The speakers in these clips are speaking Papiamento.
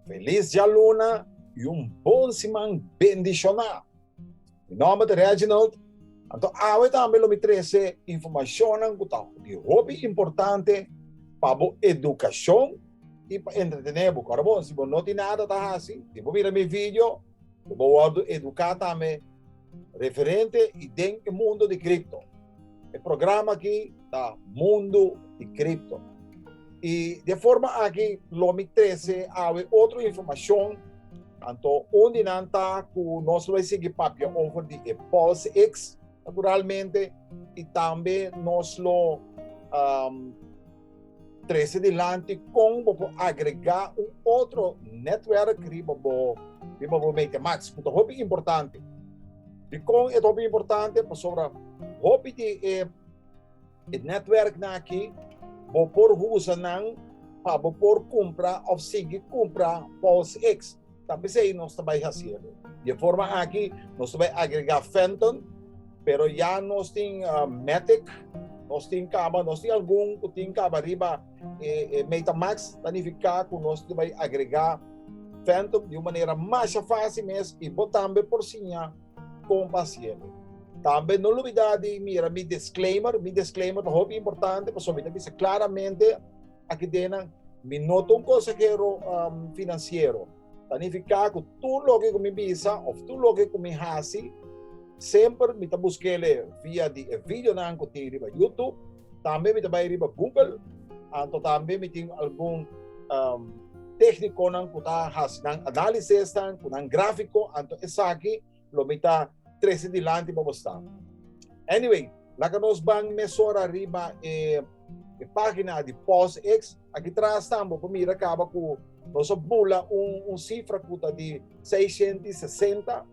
Feliz djaluna y un bon siman bendiciona. Mi nomber ta Reginald, anto awe tambe lo mi trece informacionnan cu ta di hopi importante pa bo educacion y pa entretene bo. Ora bon, si bo no tin nada ta haci, tin bo mira mi video. Bo wòrdu eduká tambe referente i den e mundu di kripto. E programa akí ta Mundu di Kripto. I den forma akí lo mi trese awe otro informashon anto un di nan ta ku nos lo bai sigui papia over di e PulseX naturalmente i tambe nos lo Trese dilanti kon bo por agregá un otro nètwerk riba bo riba bo Meta Max ku ta hopi importante. Dikon e ta hopi importante? Pasobra hopi di e e nètwerknan akí bo por usa nan pa bo por kumpra òf sigui kumpra Pulse X. Ta p'esei nos ta bai hasi elo. Di e forma aki nos ta bai agregá Fenton, pero ya nos tin Matic, nos tin kaba, nos tin algun ku tin kaba riba e Metamax, ta nifiká ku nos ta bai agregá Fenton di un manera masha fásil mes i bo tambe por siña kon pa hasi elo. Tambe no lubidá di mira mi disclaimer, mi disclaimer ta hopi importante pasobra mi ta bisa klaramente, Aki den nan, mi no ta un konsehero finansiero. Ta nifiká ku tur loke ku mi bisa òf tur loke ku mi hasi, semper mi ta busk'e via di e videonan ku tin riba Youtube. Tambe mi ta bai riba Google, anto tambe mi tin algun téhnikonan ku ta hasi nan análisis esnan, ku nan gráfiko. Anto esaki. lo mi ta trece dilanti pa bo sta. Anyway, laga nos ban mesora riba e, e pagina di PostX. Aki tras tambo bo mira caba cu nos a bula un, un cifra cu ta di seisciento y sesenta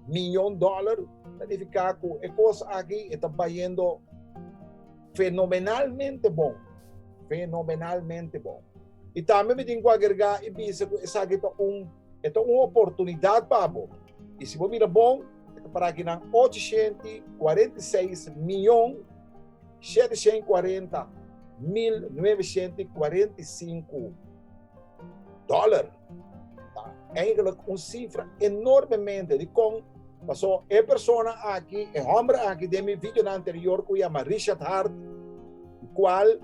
miyon dollar. Ta nifica cu e cos aki e ta bayendo fenomenalmente bon, fenomenalmente bon. Y tambe mi tin cu agregar y bisa cu esaki ta un. E ta un oportunidat pa bo, i si bo mira bon, e ta para ki nan ocho shent i kuarenta i seis mion, shete shent i kuarenta mil, nuebe shent i kuarenta i sinku dòler. Ta eigenlik un sifra enormemente dikon? Pasó e persona aki, e hòmber aki den mi videonan anterior ku yama Richard Heart, di kual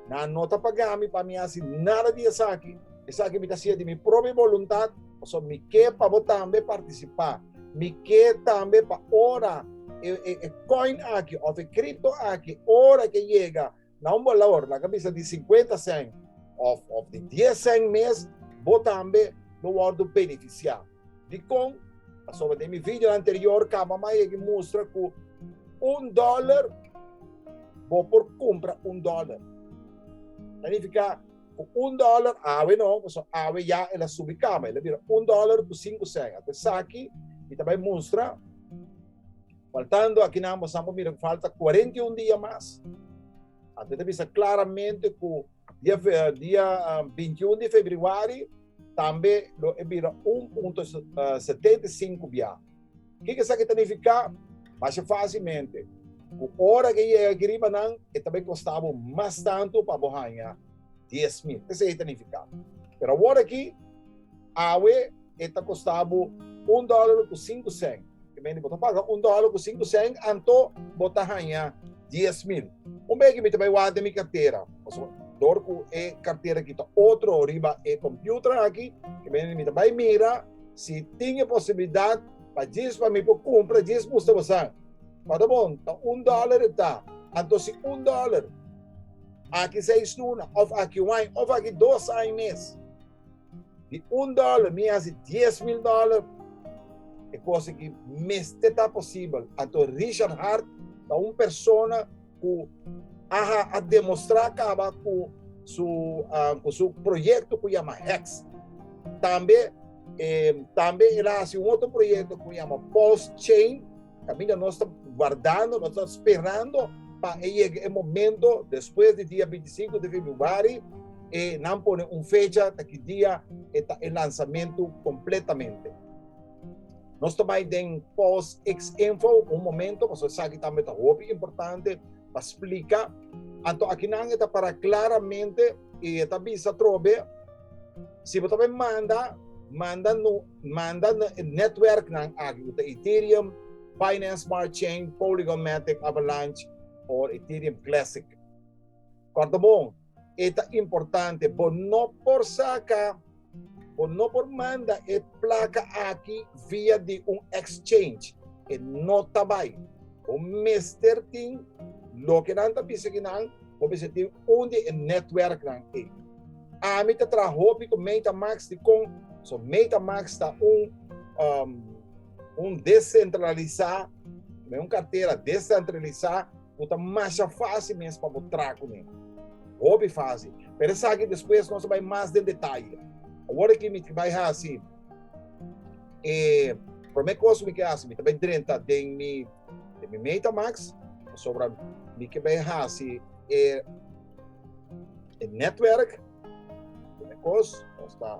nan no ta paga mi pa mi hasi nada di esaki, Esaki mi ta hasié di mi propi boluntat, pasobra mi ke pa bo tambe partisipá. Mi ke tambe pa ora e, e, e kòin akí òf e kripto akí, ora ke yega na un balor, laga bisa di sinkuenta sèn òf, òf di dies sèn mes, bo tambe lo wòrdu benefisiá. Dikon? Pasobra den mi videonan anterior kaba mi a yega mustra ku un dòler bo por kumpra un dòler. Ta nifiká. Ku un dòler awe no, pasobra awe ya el a subi kaba. El a bira un dòler ku sinku sèngat. Esaki mi ta bai mustra, faltando aki nan boso nan por mira ku falta kuarenta i un dia mas. Anto e ta bisa klaramente ku dia dia binti un di febrüari tambe lo e bira un punto setenta i sinku biaha. Kiko esaki ta nifiká? Masha fásilmente ku ora ke yega aki riba nan e ta bai kostá bo mas tantu pa bo haña dies mil. Esei e ta nifiká. Pero awor aki, awe e ta kostá bo un dòler ku sinku sèn. Ke mende bo ta paga un dòler ku sinku sèn, anto bo ta haña dies mil. Un bege mi ta bai wak den mi kartera, pasobra dor ku e kartera aki ta otro riba e kompüter aki, ke mende mi ta bai mira, Si tin e posibilidat pa djis pa mi por cumpra djis musta bosan. Ora bon ta un dollar e ta. Anto si un dollar aki seis luna of aki un aña of aki dos aña mes. Di un dollar mi haci dies mil dollar. E cosa ki mester ta posibel. Anto Richard Hart ta un persona. ku aha a demostrá kaba ku su ku su proyekto ku yama Heks. Tambe e tambe el a hasi un otro proyekto ku yama Pulse Chain kaminda nos ta guardando, nos ta sperando pa e yega e momento despues di dia binti sinku di februari e nan pone un fecha ta ki dia e ta e lansamentu kompletamente. Nos ta bai den Pos X Info un momento pasobra esaki tambe ta hopi importante pa splika. Anto akinan e ta para klaramente i e ta bisa atrobe, si bo ta bai manda, manda no manda na e nètwèrknan aki ku ta Ethereum, Binance Smart Chain, Polygon, Matic, Avalanche o Ethereum Classic. Kòrta bon! E ta importante, bo no por saka, bo no por manda e plaka aki via di un exchange. E no ta bai. Bo mester tin loke nan ta bisa aki nan, bo mester tin un di e netwerknan ei. Ami ta traha hopi ku Metamask, dikon? So Metamask ta un, un desentralisá, ta un kartera desentralisá. bo ta masha fásil mes pa bo tra kuné. Hopi fásil. Pero esaki despues nos a bai mas den detaye. Awor aki mi bai hasi e promé kos ku mi ke hasi, mi ta bai drenta den mi MetaMask, pasobra mi ke bai hasi e netwerk. Promé kos nos ta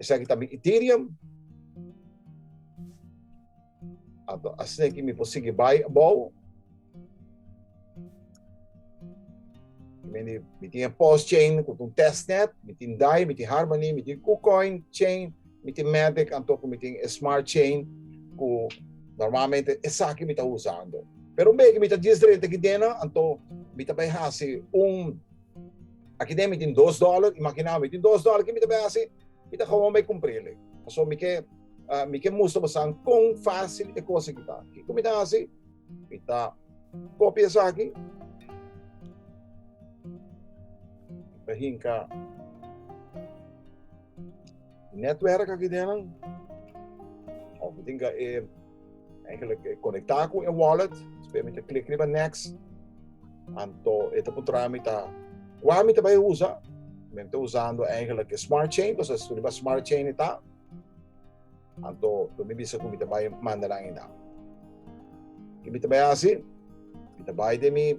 Esaki ta mi Ethereum. Ato, asne ki mi por sigui bai abou. Mi, mi tin post chain ku un testnet, mi tin DAI, mi tin Harmony, mi tin KuCoin chain, mi tin Matic, anto ku mi tin e smart chain ku normalmente esaki mi ta usando. Pero un beki mi ta disdrenta ki dena, anto mi ta bai hasi un Aki den mi tin dos dollar, imagin'é mi tin dos dollar ki mi ta bai hasi? Mi ta kaua bai kumpr'é lei. Pasobra mi ke mi ke mustra boso kon fásil e kos aki ta. Kiko mi ta hasi? Mi ta kopia esaki, mi ta hinka nètwèrk aki den, òf mi tin ka e Eigenlijk e conecta cu e wallet, despues mi ta klik riba next, anto e ta puntra mi ta cua mi ta bay usa, mi ta usando eigenlijk e smart chain, cos es riba smart chain e ta, anto lo mi bisa cu mi ta bay manda nan e nan. Ki mi ta bay hasi? Mi ta bay den mi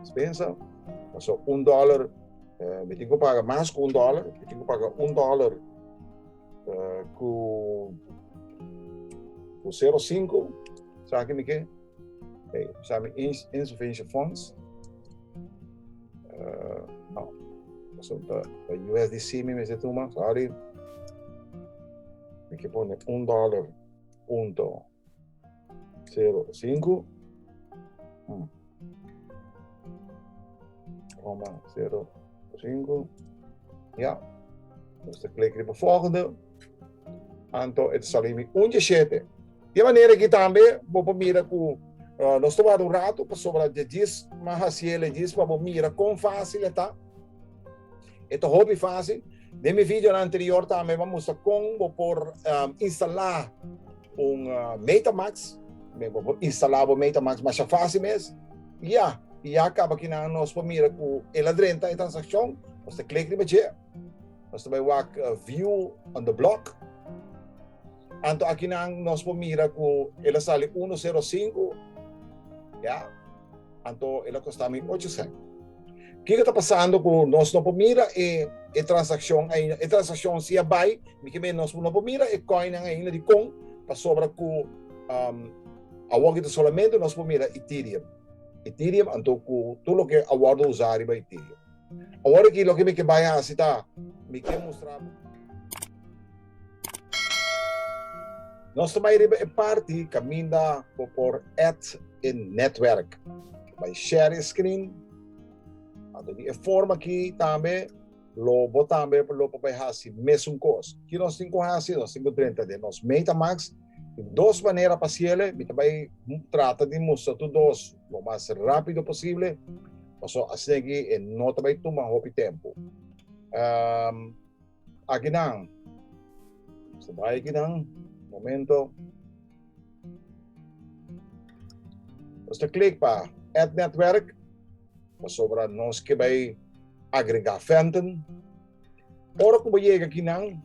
Dispensa, paso un dollar, eh, mi tin ku paga mas ku un dollar, mi tin ku paga un dollar eh, ku ku 05, sa ki mi ke? Hey, sa mi ins, insufficient funds. Uh, no, paso ta, ta USDC mi mese tuma, sorry. Mi ke pone un dollar punto Sero sinku. Hmm. Roma sero sinku. Ja. Ons te klik riba volgende. Anto et salimi un je shete. De manera ki tambe bo por mira ku uh, nos tomado un rato pasobra je jis ma hasiel e jis pa bo mira kon fácil e ta. E ta hopi fásil. Den mi video anterior tambe mi a mustra kon bo por instalá un MetaMask. Bo por instalá bo MetaMask masha fásil mes. I ya, i ya kaba ki nan nos por mira ku e la drenta e transakshon. Nos ta klik riba dje. Nos ta bai wak View on the Block. Anto akinan nos por mira ku e la sali uno sero sinku. Ya. Anto el a kosta mi ocho sènt. Kiko ta pasando ku nos no por mira e e transakshon ainda? E transakshon si a bai, mi ke mei nos no por mira e kòinnan ainda. Dikon? Pasobra ku awor kita solamente nos por mira Ethereum. Ethereum anto ku tur loke a wòrdu usá riba Ethereum. Awor aki loke mi ke bai hasi ta mi ke mustra bo. Nos ta bai riba e parti kaminda bo por add e netwerk. Bai share e screen. A dor di e forma aki tambe lo bo tambe lo por bai hasi mesun kos. Ki nos tin ku hasi? Nos tin ku drenta den nos MetaMask. Tin dos manera pa hasiele. Mi ta bai trata di mustra tur dos lo mas rapido posible pasobra asina aki e no ta bai tuma hopi tempu. Akinan, so bai akinan, momento. Nos ta klik pa Add Netwerk, pasobra nos ke bai agregá Fenton. Ora ku bo yega akinan,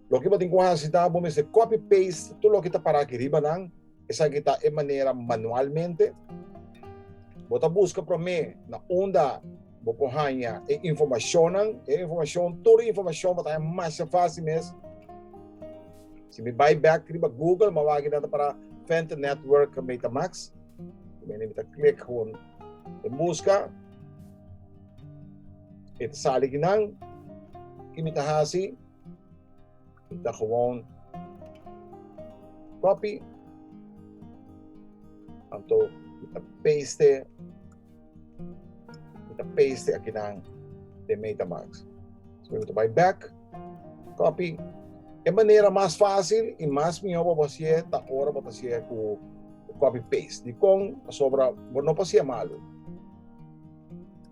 loke bo tin ku hasi ta bo mester copy-paste tur loke ta pará aki riba nan, Esaki ta e manera manualmente. Bo ta buska promé na unda bo por haña e informashonnan. E informashon, tur e informashon bo ta haña masha fásil mes. Si mi bai bèk riba Google, mi a wak keda ta para Venter Network Metamax. Mene mi ta klik gewoon den buska. E ta sali aki nan. Ki mi ta hasi? Ta gewoon copy. Anto mi ta paste. Mi ta paste aki nan den MetaMask. So mi ta bai back. Copy. E manera mas facil y mas miho pa bo haci'e ta ora bo ta haci'e cu copy paste. Dicon? Pasobra bo no por haci'e malo.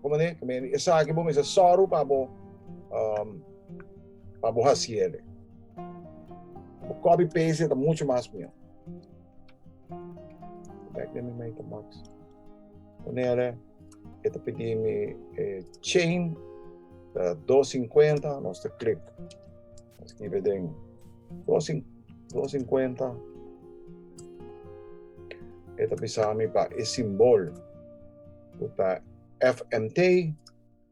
Comprende? Esaki bo mester sòru pa bo. pa bo hasi el e. Bo copy paste ta mucho mas mihó. Back de mi MetaMask. Ponele, e ta pidi mi eh, chain ta 250, nos te click. Escribe den 250. E ta bisa mi pa e simbol. Puta FMT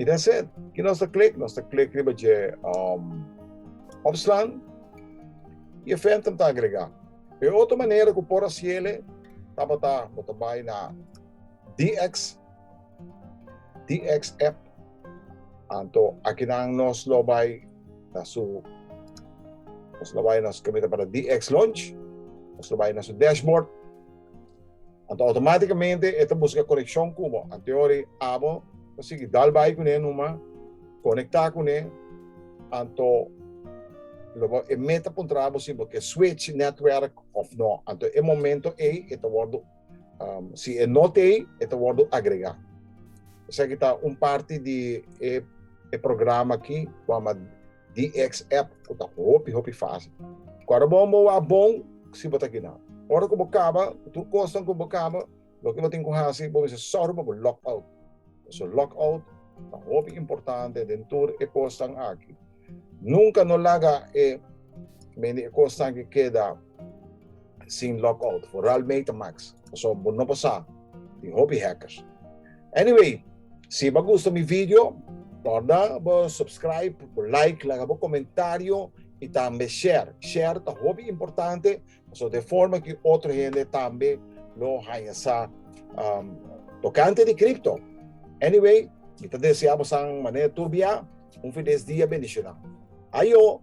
I that's it. Ki nos ta klik? Nos ta klik riba dje um, opslaan i e ventum ta agregá. E otro manera ku por hasiele tabata bo ta bai na DX DX app. Anto akinan nos lo bai na su nos lo bai na su kamita para DX launch. Nos lo bai na su dashboard. Anto automáticamente e ta busca conexión cubo. Anteori abo ta sigui dal bai con e numa, conecta con e. Anto lobo e meta puntra abo si bo ke switch netwerk of no. Anto e momento ei e ta wordo um, si e no tei, e ta wordo agrega. Esaki ta un parti di e, e programa ki wama DX app cu ta hopi hopi facil. Cu ora bo bo wak bon si bo ta gina. Ora cu bo caba cu tur cosnan cu bo caba loke bo tin cu haci bo mester sor bo cu log out. Pasobra log out ta hopi importante den tur e cosnan aki. Nunca no laga e mende e cosnan aki keda. Sin log out for real mate max paso bo no por sa tin hopi hackers anyway si bo a gusta mi video torna bo subscribe bo like laga bo comentario y tambe share share ta hopi importante paso de forma ki otro hende tambe lo haña sa tocante di crypto anyway mi ta desea bo san manera tur bia un feliz dia bendicionado ayo.